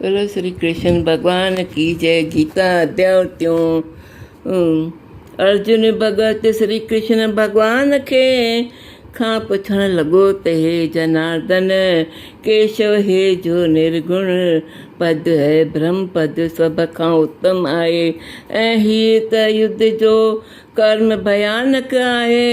بولو شري ڪرشن ڀڳوان ڪي جئه گيتا اديا اتيون ارجن ڀڳت شري ڪرشن ڀڳوان کي کان پڇڻ لڳو ته هي جناردن ڪيشو هي جو نرگڻ پد هي برهم پد سڀ کان اتم آهي ۽ هيء ته يڌ جو ڪرم ڀيانڪ آهي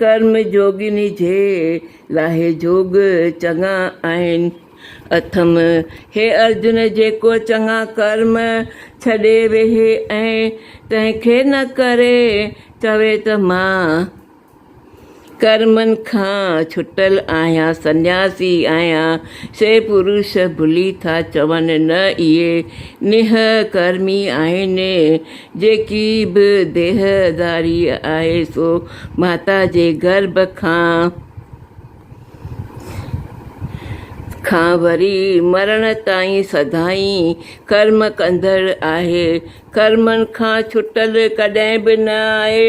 ڪرم جوڳيني جي لاهي جوڳ چڱا آهن. اٿم، هي ارجن جيڪو چڱا ڪرم ڇڏي ويهي ۽ ڪنهن کي نه ڪري چوي ته مان ڪرمن کان ڇٽل آهيان، سنياسي آهيان، سي پروش ڀلي ٿا چون نه اهي نهه ڪرمي آهن، جيڪي به ديهداري آهي سو ماتا جي گرڀ کان وري مرڻ تائين سدائين ڪرم ڪندڙ آهي، ڪرمن کان ڇٽل ڪڏهن به نه آهي،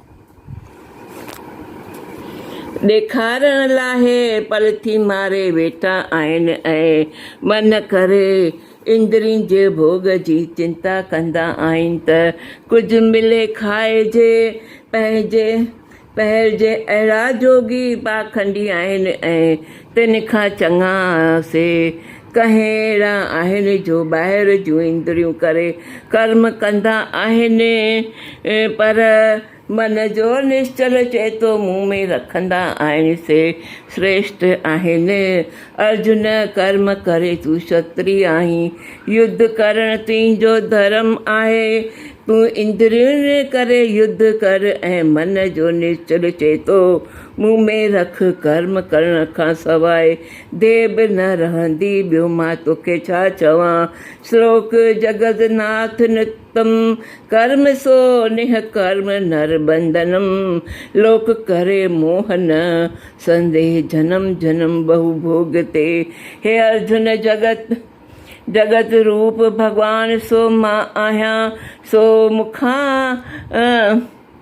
ڏيکارڻ لاء پلٿي ماري ويٺا آهن ۽ من ڪري اندرين جي ڀوڳ جي چنتا ڪندا آهن ته ڪجهه ملي کائجي، پهرجي، پهرجي اهڙا جوڳي پاکنڊي آهن ۽ تن کان چڱا سي ڪهي اهڙا آهن جو ٻاهر جون اندريون ڪري ڪرم ڪندا آهن پر من جو نشچل چيتو مون ۾ رکندا آهن سي سريشٽ آهن. ارجن ڪرم ڪري تون ڪشتري آهين يڌ ڪرڻ تنهنجو ڌرم آهي تون اندرين ڪري يڌ ڪر ۽ من جو نشچل چيتو مون ۾ رک ڪرم ڪرڻ کان سواء دي به نه رهندي ٻيو مان توکي ڇا چوان. شلوڪ، جگت ناٿ نڪتم ڪرم سو نيهه ڪرم نر بندنم لوڪ ڪري موه نه سنديهه جنم جنم ٻهو ڀوڳ تي. هي ارجن جگت جگت روپ ڀڳوان سو مان آهيان سو مون کان.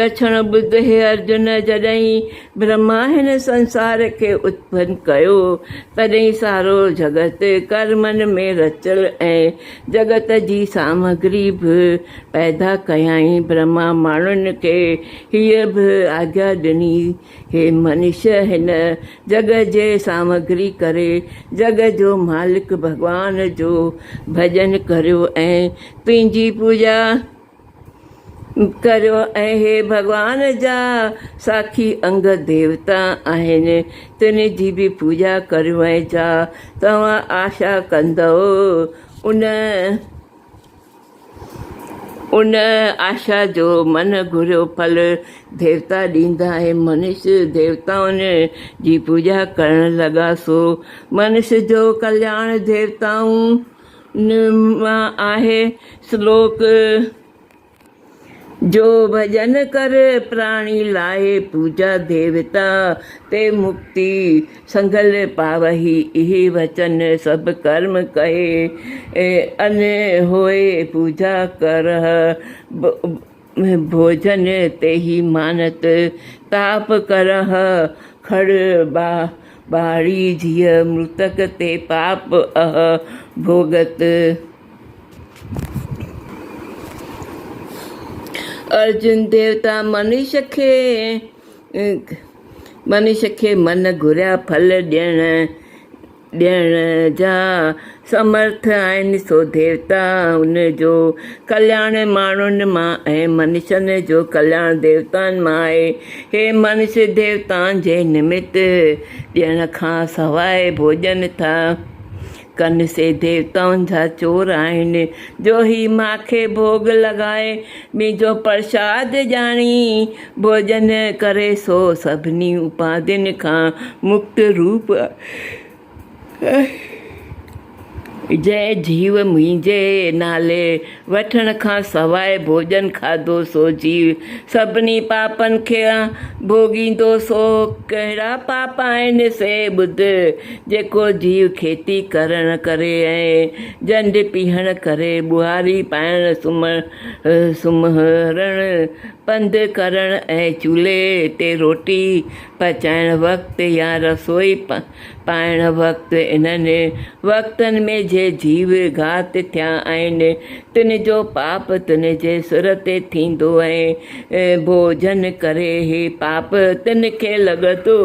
لڇڻ ٻڌ هي ارجن جڏهين برهما هن سنسار کي اتپن ڪيو تڏهين سارو جڳت ڪرمن ۾ رچل ۽ جڳت جي سامگري به پيدا ڪيائين برهما ماڻهن کي هيء به آگيا ڏني هي منش هن جڳ جي سامگري ڪري جڳ جو مالڪ ڀڳوان جو ڀڄن ڪريو ۽ تنهنجي پوڄا ڪريو ۽ هي ڀڳوان جا ساکي انگ ديوتا آهن تن جي به پوڄا ڪريو ۽ جا توهان آشا ڪندؤ ان ان آشا جو من گهريو ڦل ديوتا ڏيندا ۽ منش ديوتائن جي پوڄا ڪرڻ لڳا سو منش جو ڪلياڻ ديوتائن نما آهي سلوڪ جو ڀڄن ڪر پراڻي لاهي پوجا ديوتا تي مڪتي سنگل پاوهي اهي وچن سڀ ڪرم ڪهي ان هوئي پوجا ڪرهه ڀوڄن تي هي مانت، تاپ ڪرهه کڙ ٻاڙي ڌيء، مرتڪ تي پاپ اهه ڀوڳت. ارجن ديوتا منش کي، منش کي من گهريا ڦل ڏيڻ، ڏيڻ جا سمرٿ آهن، سو ديوتا ان جو ڪلياڻ ماڻهن مان ۽ منشن جو ڪلياڻ ديوتائن مان آهي. هي منش ديوتائن جي نمت ڏيڻ کان سواء ڀوڄن ٿا ڪن، سي ديوتائن جا چور آهن، جو هي ماکي ڀوڳ لڳائي، مينجهو پرشاد ڄاڻي، ڀوڄن ڪري، سو سڀني اپاڌين کان مڪت روپ جنهن جيو منهنجي نالي وٺڻ کان سواء ڀوڄن کاڌو سو جيو سڀني پاپن کي ڀوڳيندو سو ڪهڙا پاپ آهن سي ٻڌ جيڪو جيو کيتي ڪرڻ ڪري ۽ جنڊ پيهڻ ڪري ٻهاري پائڻ سمهڻ پنڌ ڪرڻ ۽ چولهي تي روٽي پچائڻ وقت يا رسوئي پائڻ وقت انهن وقتن ۾ جي جيو گهات ٿيا آهن تن جو پاپ تن جي سر تي ٿيندو ۽ ڀوڄن ڪري هي پاپ تن کي لڳندو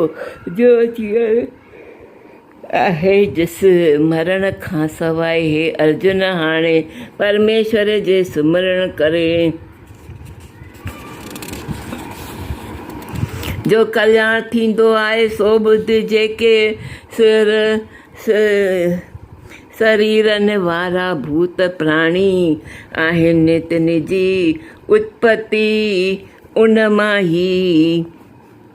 جو جيئن آهي جس مرڻ کان سواء هي ارجن هاڻي پرميشور جي سمرڻ ڪري جو ڪلياڻ ٿيندو آهي سو ٻڌ جيڪي سر سريرن وارا ڀوت پراڻي آهن تن جي اتپتي ان مان ئي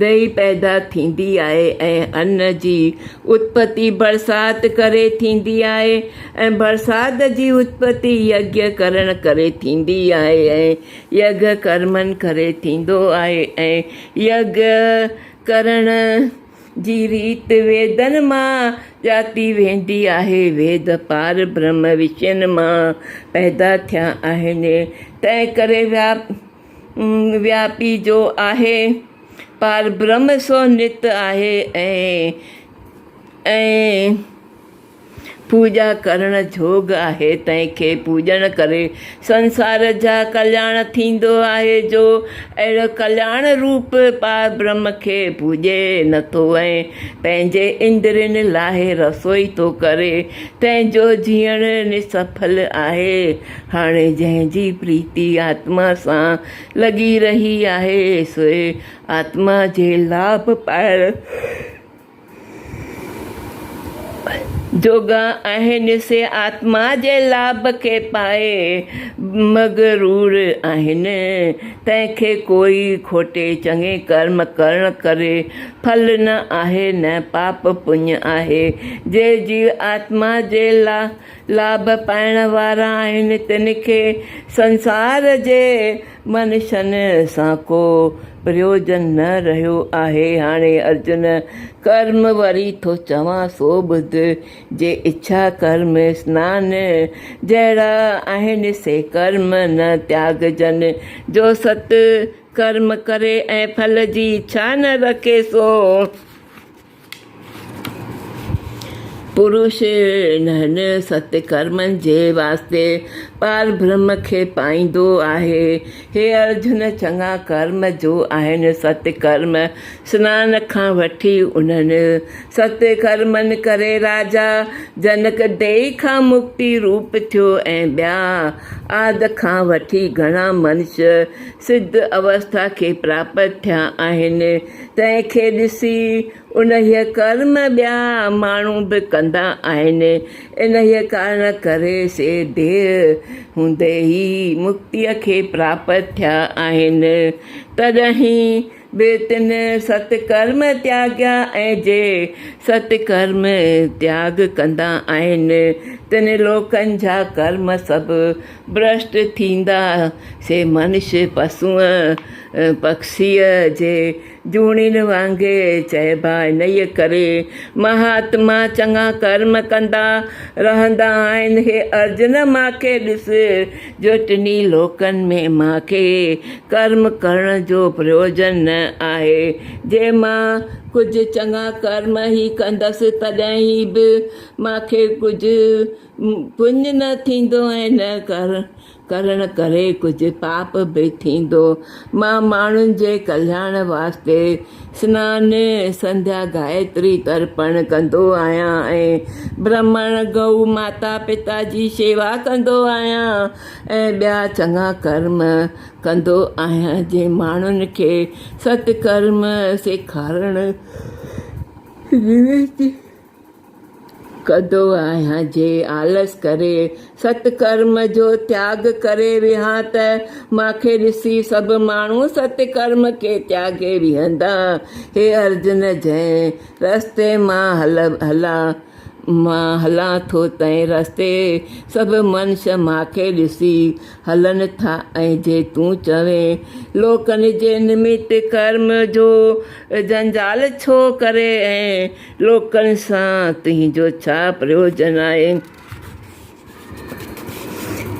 دئي پيدا ٿيندي آهي ۽ ان جي اتپتي برسات ڪري ٿيندي آهي ۽ برسات جي اتپتي يگيا ڪرڻ ڪري ٿيندي آهي ۽ يگ ڪرمن ڪري ٿيندو آهي ۽ يگ ڪرڻ جي ريت ويدن مان ڄاتي ويندي آهي ويد پار برهمه رشين مان پيدا ٿيا آهن تنهن ڪري وياپي جو آهي پاربرهم سو نت آهي ۽ پوڄا ڪرڻ جوڳ آهي تنهن کي پوڄڻ ڪري سنسار جا ڪلياڻ ٿيندو آهي جو اهڙو ڪلياڻ روپ پاربرهم کي پوڄي نٿو ۽ پنهنجي اندرين لاهي رسوئي ٿو ڪري تنهن جو جيئڻ نسڦل آهي هاڻي جنهن جي پريتي آتما سان لڳي رهي آهي، سوء آتما جي لاڀ پائڻ جوڳا آهن، سي آتما جي لاڀ کي پائي مغرور آهن. تنهن کي ڪوئي کوٽي چڱي ڪرم ڪرڻ ڪري ڦل نه آهي نه پاپ پڃ آهي، جي جيو آتما جي لاء لاڀ پائڻ وارا آهن تن کي سنسار جي منشن سان ڪو پريوجن نه رهيو آهي. هاڻي ارجن ڪرم وري ٿو چوان سو ٻڌ، جي اڇا ڪرم سنان جهڙا آهن سي ڪرم نه تياگجن، جو ست ڪرم ڪري ۽ ڦل جي اڇا نه رکي سو. پروش انهن ست ڪرمن جي واسطي پاربرهم کي پائيندو آهي. هي ارجن چڱا ڪرم جو آهن ست ڪرم، سنان کان وٺي انهن ست ڪرمن ڪري راجا جنڪ ديهي کان مڪتي روپ ٿيو ۽ ٻيا آد کان وٺي گهڻا منش سڌ اوسٿا کي پراپت ٿيا آهن. تنهن کي ڏسي انهيء ڪرم ٻيا ماڻهو به ڪندا آهن. انهيء ڪارڻ ڪري سي دير هوندي ئي مڪتيء کي پراپت ٿيا آهن. تڏهين به تن ست ڪرم تياڳيا ۽ جي ست ڪرم تياڳ ڪندا آهن، تن لوڪن جا ڪرم سڀ ڀرشٽ ٿيندا سي منش پسونء پکسيء جي جوڻين وانگي چئبا انهيء ڪري مهاتما چڱا ڪرم ڪندا رهندا آهن هي ارجن مان کي ڏس جو ٽنهي لوڪن ۾ مان کي ڪرم ڪرڻ جو پريوجن نه آهي جي مان ڪجهه چڱا ڪرم ئي ڪندس تڏهن هي به مان کي ڪجهه پڃ نه ٿيندو ۽ نه ڪر ڪرڻ ڪري ڪجهه پاپ به ٿيندو. مان ماڻهن جي ڪلياڻ واسطي سنان، سنڌيا، گائتري، ترپڻ ڪندو آهيان ۽ برهمڻ، گئو ماتا پتا جي شيوا ڪندو آهيان ۽ ٻيا چڱا ڪرم ڪندو آهيان جي ماڻهن کي ست ڪرم سيکارڻ جي وينتي. ڪندو آهيان جي آلس ڪري ست ڪرم جو تياڳ ڪري ويهان ته مان کي ڏسي سڀ ماڻهو ست ڪرم کي تياڳي ويهندا. هي ارجن جنهن رستي مان هلان مان هلان ٿو تنهن رستي سڀ منش مان کي ڏسي هلن ٿا ۽ جي تون چوين لوڪن جي نمت ڪرم جو جنجال ڇو ڪري ۽ لوڪن سان تنهنجو ڇا پريوجن آهي؟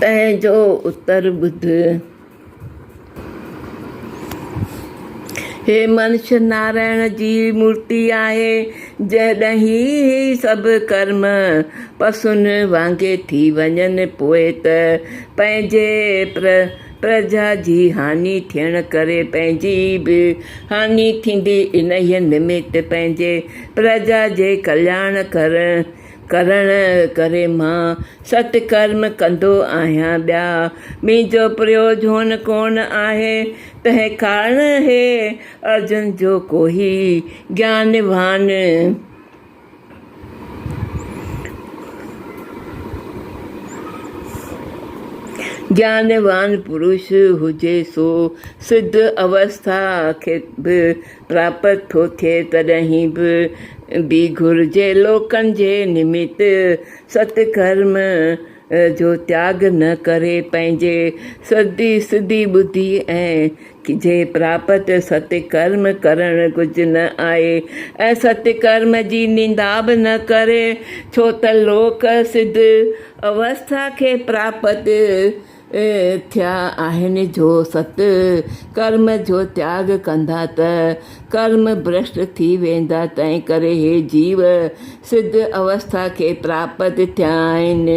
تنهن جو اتر ٻڌ. هي منش نارائڻ جي مورتي آهي، جڏهن هي سڀ ڪرم پسون وانگي ٿي وڃن، پوء ته پنهنجي پر پرجا جي هاڃي ٿيڻ ڪري پنهنجي به هاڃي ٿيندي، انهيء نمت پنهنجي پرجا جي ڪلياڻ ڪرڻ ڪري مان ست ڪرم ڪندو آهيان، ٻيا منهنجو پريوجهون ڪونه آهي، تنهن ڪارڻ هي ارجن جو ڪوهي گيان وهان. جيانوان پرش هجي سو سڌ اوسٿا کي به پراپت ٿو ٿئي تڏهن به بي گهر جي لوڪن جي نمت ست ڪرم جو تياڳ نه ڪري پنهنجي سڌي سڌي ٻڌي ۽ جي پراپت ستڪرم ڪرڻ ڪجهه نه آهي ۽ ستڪرم جي نندا به نه ڪري ڇو ته لوڪ سڌ اوسٿا کي پراپت ٿيا آهن جو ست ڪرم جو تياڳ ڪندا ته ڪرم ڀرشٽ ٿي ويندا تنهنڪري هي جيو سڌ اوسٿا کي پراپت ٿيا آهن،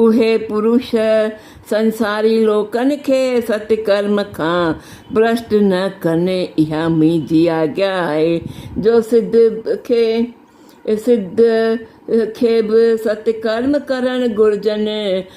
اهي پروش سنساري لوڪن کي ست ڪرم کان ڀرشٽ نه ڪن، اها منهنجي آگيا آهي جو سڌ کي سڌ کي به ست ڪرم ڪرڻ گهرجن.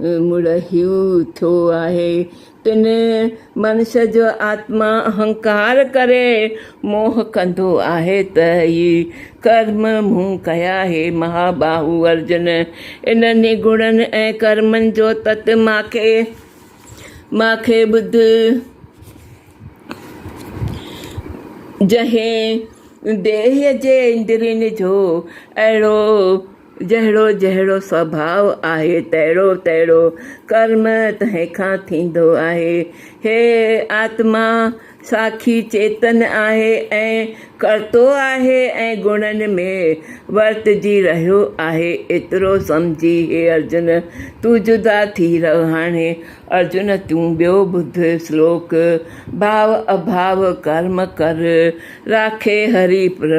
مڙ هيء ٿيو آهي تن منش جو آتما اهنڪار ڪري موهه ڪندو آهي ته هي ڪرم مون ڪيا هي مهاباهو ارجن انهن گڻن ۽ ڪرمن جو تت ماکي ماکي ٻڌ جنهن ديهه جي اندرين جو اهڙو جهڙو جهڙو سڀاء آهي، تهڙو تهڙو ڪرم تنهن کان ٿيندو آهي. هيء آتما ساکي چيتن آهي ۽ ڪرتو آهي ۽ گڻن ۾ ورتجي رهيو آهي. ايترو سمجهي، هي ارجن! تون جدا ٿي رهه هاڻي. ارجن! تون ٻيو ٻڌ سلوڪ، ڀاء اڀاء ڪرم ڪر، راکي هري پر.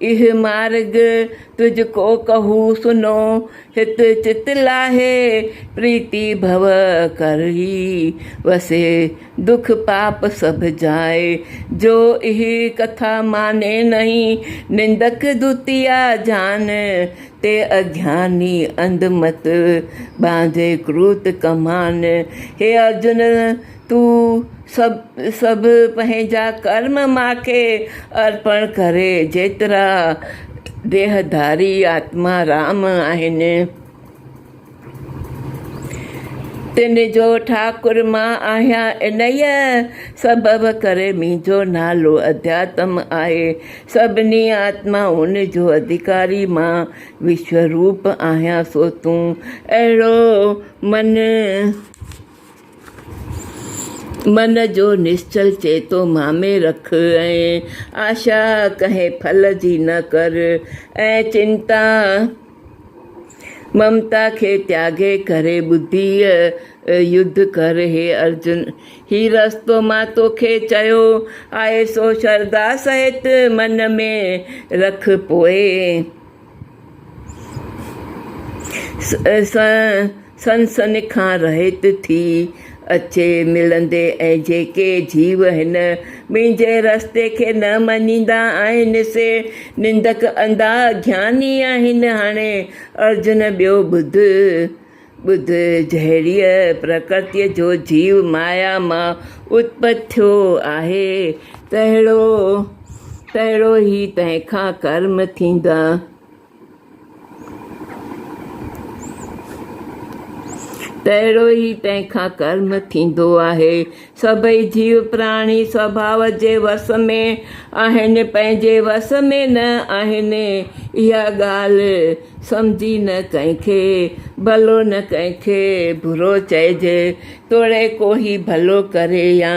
اهي مارڳ تج ڪو ڪهو سنو، هت چت لاهي پريتي ڀو ڪر هي وسي، دک پاپ سڀ جائي جو اهي ڪٿا ماني نهي، نندڪ دوتيا جان تي اگياني انڌ مت، ٻانڌي ڪروت ڪمان، هي ارجن تون سڀ سڀ پنهنجا ڪرم مان کي ارپڻ ڪري جيترا ديهڌاري آتما رام آهن تن جو ٺاڪر مان آهيان انهيء سبب ڪري منهنجو نالو اڌياتم آهي سڀني آتمائن جو اڌيڪاري مان وشوروپ آهيان سو تون اهڙو من من جو نشچل چئي ٿو مامي رک ۽ آشا ڪنهن ڦل جي نه ڪر ۽ چنتا ممتا کي تياڳي ڪري ٻڌيء يڌ ڪر هي ارجن هي رستو مان توکي چيو آهي سو شرڌا سهت من ۾ رک پوء سنسني کان رهيت ٿي اچي ملندي ۽ جيڪي جيو هن منهنجي رستي کي نه مڃيندا آهن سي نندڪ انڌا اگياني آهن هاڻي ارجن ٻيو ٻڌ ٻڌ، جهڙيء پرڪرتيء جو جيو مايا مان اتپت ٿيو آهي، تهڙو تهڙو ئي تنهن کان ڪرم ٿيندا. تهڙو ئي تنهن کان ڪرم ٿيندو آهي، سڀئي جيو پراڻي سڀاء جي وس ۾ آهن، پنهنجي وس ۾ نه آهن. اها ڳالهه سمجهي نه ڪنهن کي ڀلو نه ڪنهن کي برو چئجي، توڙي ڪو هي ڀلو ڪري يا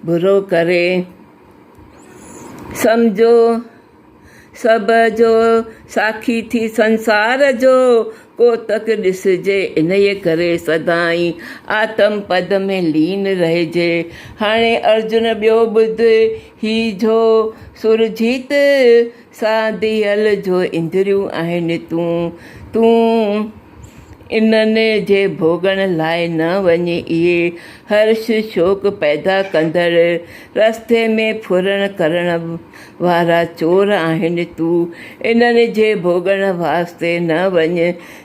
برو ڪري. سمجهو! سڀ جو ساکي ٿي سنسار جو، ڪوتڪ ڏسجي انهيء ڪري سدائين آتم پد ۾ لين رهجي. هاڻي ارجن ٻيو ٻڌ هي جو سورجيت سان ديهل جو اندريون آهن تون، تون انهن جي ڀوڳڻ لاء نه وڃ اهي هرش شوق پيدا ڪندڙ رستي ۾ ڦرڻ ڪرڻ وارا چور آهن تون انهن جي ڀوڳڻ واسطي نه وڃ.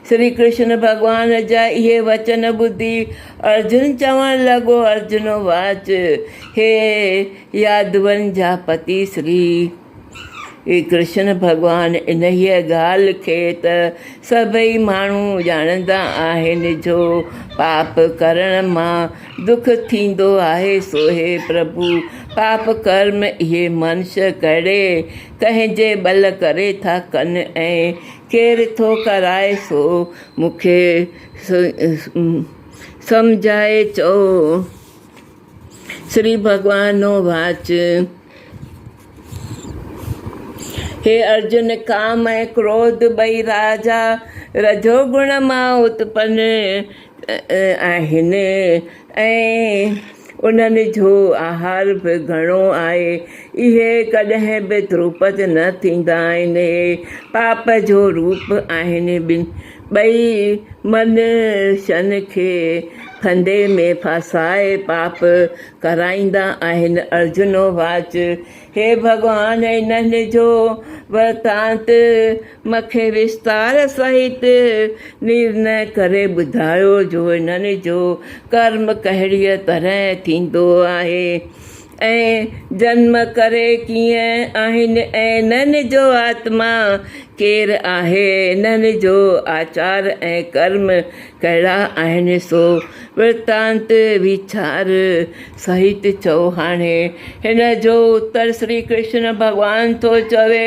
شري ڪرشن ڀڳوان جا اهي وچن ٻڌي ارجن چوڻ لڳو ارجنو واچ هي يادون جا پتي شري ڪرشن ڀڳوان انهيء ڳالهه کي ته سڀئي ماڻهو ڄاڻندا آهن جو پاپ ڪرڻ مان دک ٿيندو آهي سو هي پرڀو پاپ ڪرم اهي منش ڪهڙي ڪنهن جي ٻل ڪري ٿا ڪن ۽ ڪير ٿو ڪرائي سو مون کي سمجهائي چئو شري ڀڳوانو واچ هي ارجن ڪام ۽ ڪروڌ ٻئي راجا رجو گڻ مان اتپن آهن ۽ انهن جو آهار به گهڻو آهي. اهي ڪڏهن به تروپت نه ٿيندا آهن. اهي پاپ جو روپ آهن. ٻئي منشن کي ڦندي ۾ ڦاسائي پاپ ڪرائيندا آهن. ارجن واچ، هي ڀڳوان! انهن جو ورتانت مکي وستار سهت نرنئه ڪري ٻڌايو جو انهن جو ڪرم ڪهڙيء طرح ٿيندو آهي ۽ جنم ڪري ڪيئن آهن ۽ انهن جو آتما ڪير آهي، انهن جو آچار ۽ ڪرم ڪهڙا آهن سو ورتانت ويچار سهت چئو. هاڻي هن جو اتر شري ڪرشن ڀڳوان ٿو چوي.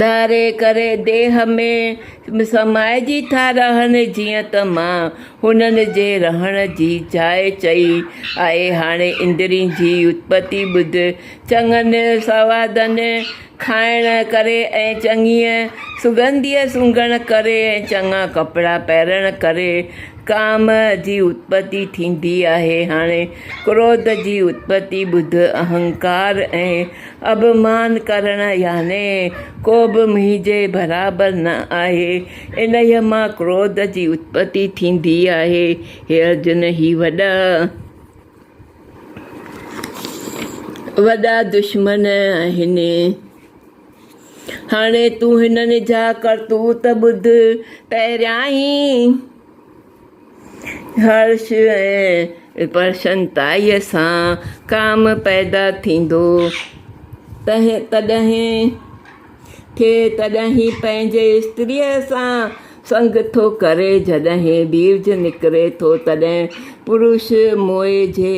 ڌاري ڪري ديھ ۾ سمائجي ٿا رهن جيئن ته مان هنن جي رهڻ جي جاء چئي آهي. هاڻي اندرين جي اتپتي ٻڌ. چڱن سوادن، کائڻ ڪري ۽ چڱيء سڳنڌيء سونگهڻ ڪري ۽ چڱا ڪپڙا پهرڻ ڪري ڪام جي اتپتي ٿيندي آهي. هاڻي ڪروڌ جي اتپتي ٻڌ، اهنڪار ۽ اڀمان ڪرڻ يعني ڪوبه منهنجي برابر نه آهي، انهيء مان ڪروڌ جي اتپتي ٿيندي آهي. هي ارجن! هي وڏا وڏا دشمن آهن. هاڻي تون هنن جا ڪرتوت ٻڌ. پهريائين. هرش ۽ پرسنتائيء سان ڪام پيدا ٿيندو، تڏهن کي تڏهن ئي پنهنجي استريء سان سنگ ٿو ڪري، جڏهن بيج نڪري ٿو، تڏهن پروش موئي جي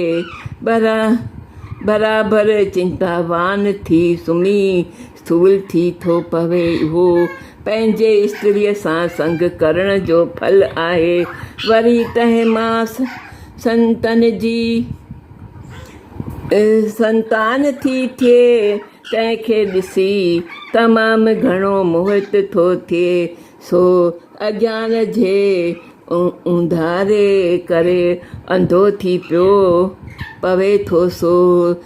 برابر چنتاوان ٿي سمهي سول ٿي ٿو پوي اهو پنهنجي استريء سان سنگ ڪرڻ جو ڦل آهي وري تنهن مان سنتن جي سنتان ٿي ٿئي تنهن کي ڏسي تمام گهڻو موهت ٿو ٿئي سو اجهان جي اونڌاري ڪري انڌو ٿي پيو پوي ٿو سو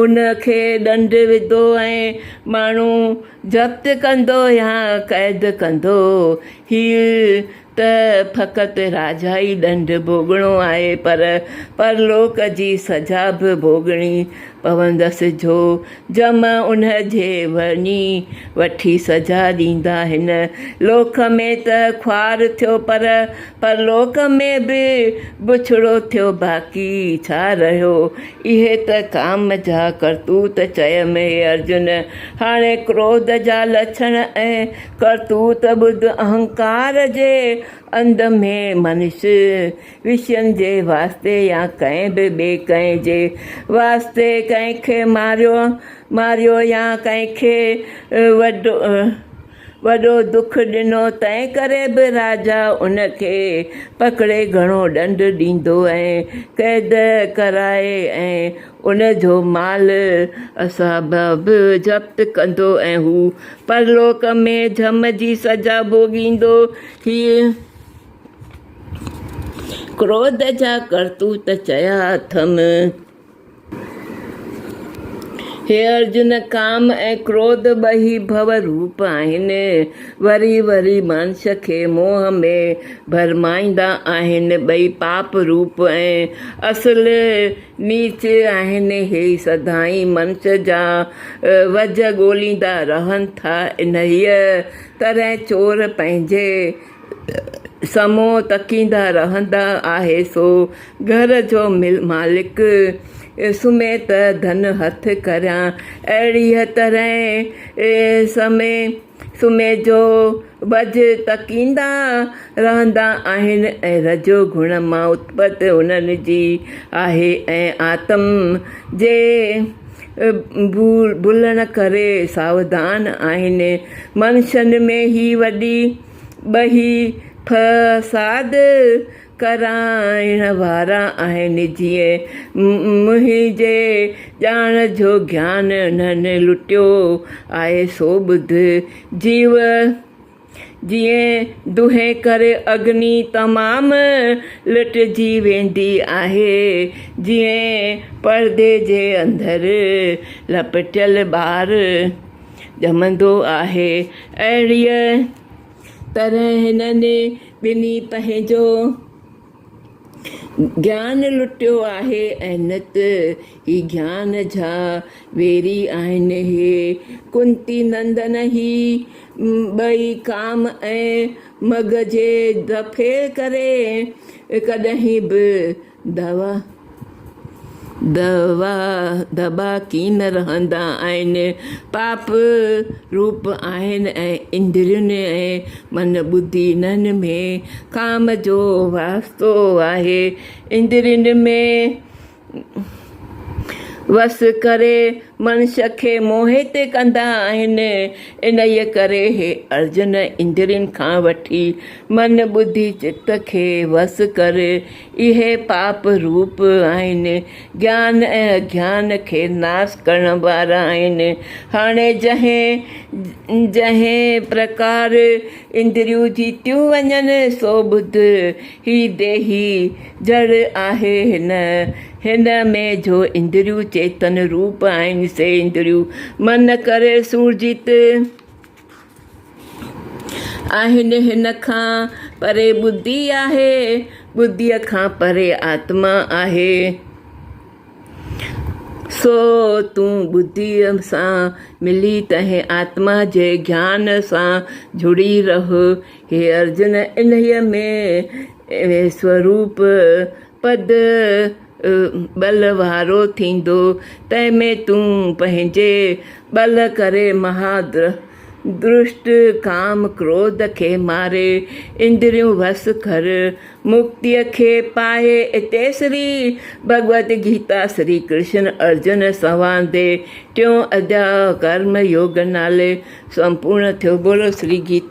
ان کي ڏنڊ وڌو ۽ ماڻهو ضبط ڪندو يا قيد ڪندو. هيء ته فقط راجائي ڏنڊ ڀوڳڻو آهي پر پرلوڪ جي سزا به ڀوڳڻي پوندس جو جم ان جي وڃي وٺي سزا ڏيندا. هن لوڪ ۾ ته خوار ٿيو پر پرلوڪ ۾ به بڇڙو ٿيو باقي ڇا رهيو؟ اهي ته ڪام جا ڪرتوت چيم اي ارجن! هاڻي ڪروڌ جا لڇڻ ۽ ڪرتوت ٻڌ اهنڪار جي انڌ ۾ منش وشين جي واسطي يا ڪنهن به ٻئي ڪنهن جي واسطي ڪنهن کي ماريو يا ڪنهن کي وڍو، وڏو دک ڏنو تنهن ڪري به راجا ان کي پڪڙي گهڻو ڏنڊ ڏيندو ۽ قيد ڪرائي ۽ ان جو مال اصحاب به ضبط ڪندو ۽ هو پرلوڪ ۾ جھم جي سزا ڀوڳيندو. هيء ڪروڌ جا ڪرتوت چيا اٿم. هي ارجن، ڪام ۽ ڪروڌ ٻئي ڀو روپ آهن. وري وري ماڻس کي موهه ۾ ڀرمائيندا آهن. ٻئي پاپ روپ ۽ اصل نيچ آهن. هي سدائين ماڻس جا وجهه ڳوليندا رهن ٿا. انهيء طرح چور پنهنجي سمون تڪيندا رهندا آهي سو گهر جو مالڪ سمهي ته ڌن هٿ ڪريان اهڙيء طرح سمهي سمهي جو وجهه تڪيندا رهندا آهن ۽ رجو گڻ مان اتپت انهن جي آهي ۽ آتم جي ڀلڻ ڪري ساوڌان آهن. منشين ۾ هي وڏي ٻهي فساد ڪرائڻ وارا آهن، جيئن منهنجي ڄاڻ جو گيان انهن لٽيو آهي، سو ٻڌ جيو! جيئن دونهين ڪر اگني تمام، لٽجي ويندي آهي. جيئن پردي جي اندر، لپٽيل ٻار ڄمندو آهي. اهڙيء طرح هنن ٻنهي پنهنجو. گيان لٽيو آهي ۽ نت هي گيان جا ويري آهن هي ڪنتي نندن هي ٻئي ڪام ۽ مگهه جي دفعي ڪري ڪڏهن به دوا دٻا دٻا ڪين رهندا آهن، پاپ روپ آهن ۽ اندرين ۽ من ٻڌي انهن ۾ ڪام جو واسطو آهي، اندرين ۾ وس ڪري منش کي موهت ڪندا آهن، انهيء ڪري هي ارجن اندرين کان وٺي من ٻڌي چت کي وس ڪر، اهي پاپ روپ آهن، گيان ۽ اگيان کي ناس ڪرڻ وارا آهن. هاڻي جنهن جنهن پرڪار اندريون جيتيون وڃن، سو ٻڌ. هي ديهي جڙ آهي هن، هن ۾ جو اندريون چيتن روپ آهن، سي اندريون من ڪري سورجيت. آهن هن کان پري ٻڌي آهي، ٻڌيء کان پري آتما آهي، سو تون ٻڌيء سان ملي تنهن آتما جي گيان سان جڙي رهه، هي ارجن انهيء ۾ سوروپ پد ٻل وارو ٿيندو، تنهن ۾ تون پنهنجي ٻل ڪري مها درشٽ ڪام ڪروڌ کي ماري، اندريون وس ڪر، مڪتيء کي پائي اتي شري ڀڳوت گيتا شري ڪرشن ارجن سنواد جي ٽيون اڌياء ڪرم يوگ نالي سمپورن ٿيو. بولو شري گيتا.